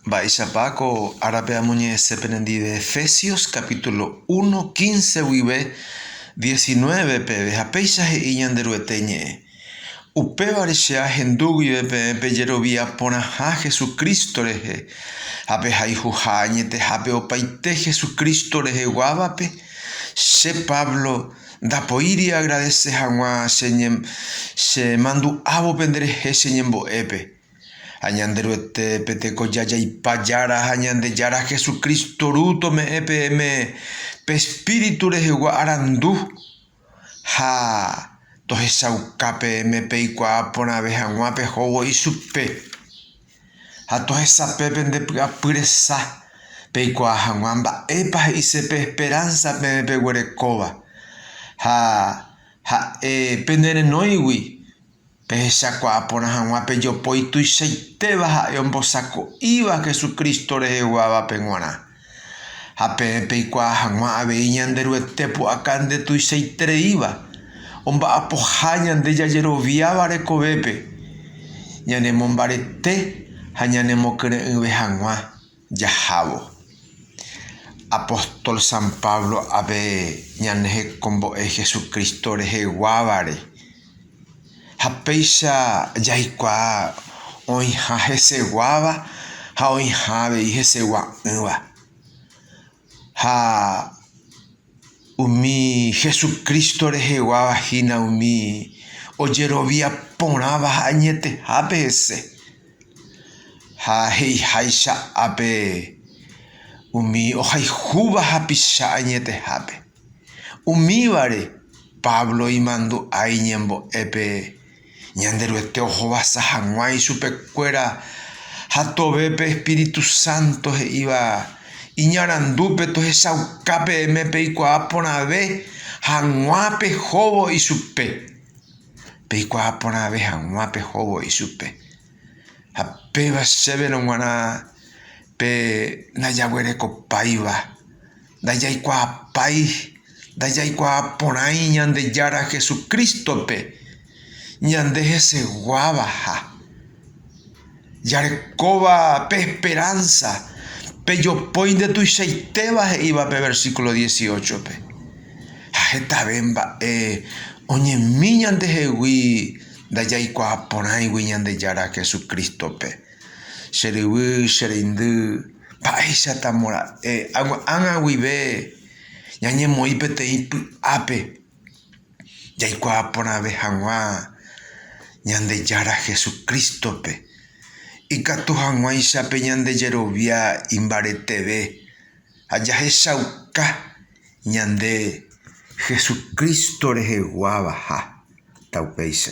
Mba'éichapa ko árape amoñe'ẽse penendive Efesios capítulo uno, quince guive diecinueve peve, ha péicha he'i Ñanderuete ñe'ẽ, Upévare che ahendu guive peẽ pejerovia porãha Jesucristo rehe, ha pehayhuha añetehápe opaite Jesucristo reheguávape. Che Pablo ndapoíri agradese hag̃ua che mandu'ávo penderehe che ñembo'épe. Ha Ñanderuete pe tekoja jaipa Jára ha Ñandejára Jesucristo Ru tome'ẽ peẽme pe Espíritu rehegua arandu, ha tohechauka peẽme peikuaa porãve hag̃ua pehóvo ichupe, ha tohesape pende py'apy resa, peikuaa hag̃ua mba'épa he'ise pe esperánsa peẽ peguerekóva, ha ha'e pene renóigui. Pehechakuaa porã hag̃ua pe jopói tuichaitéva ha'e ombosako'íva Jesucristo reheguávape g̃uarã. Ha peẽ peikuaa hag̃ua avei Ñanderuete pu'aka nde tuichaitereíva, omba'apoha ñande jajeroviáva rekovépe, ñanemombarete ha ñanemokyre'ỹve hag̃ua. jahávo. Apóstol San Pablo ave ñane hekombo'e Jesucristo reheguávare, ha péicha jaikuaa oĩha heseguáva ha oĩha avei hesegua'ỹva. Ha umi Hesu Crísto reheguáva hína umi ojerovia porãva ha añetehápe hese. Ha he'iháicha ápe, umi ohayhúva hapicha añetehápe. Umívare Pablo imandu'a iñembo'épe Ñanderuete ohovasa hag̃ua ichupekuéra ha tove pe espíritu sánto he'íva iñarandúpe tohechauka peẽme peikuaa porãve hag̃ua pehóvo ichupe. Peikuaa porãve hag̃ua pehóvo ichupe. Ha péva chéverõ g̃uarã pe ndajaguerekopáiva. Ndajaikuaapái, ndajaikuaa porãi Ñandejára Jesucristo-pe ñande heseguávaha. Jarekóva pe esperánsa, pejopói nde tuichaitéva he'íva pe versíkulo dieciochópe. Ha hetave mba'e oñemi ñandehegui ndajaikuaa porãigui Ñandejára Jesucristo-pe. Che ryvy, che reindy, Mba'éichatamo ra'e ág̃a guive ñañemoĩ peteĩ py'ápe jaikuaa porãve hag̃ua Ñandejára Jesucrístope, ikatu hag̃uáicha pe ñande jerovia imbareteve ha jahechauka ñande Jesucristo reheguávaha. Upéicha.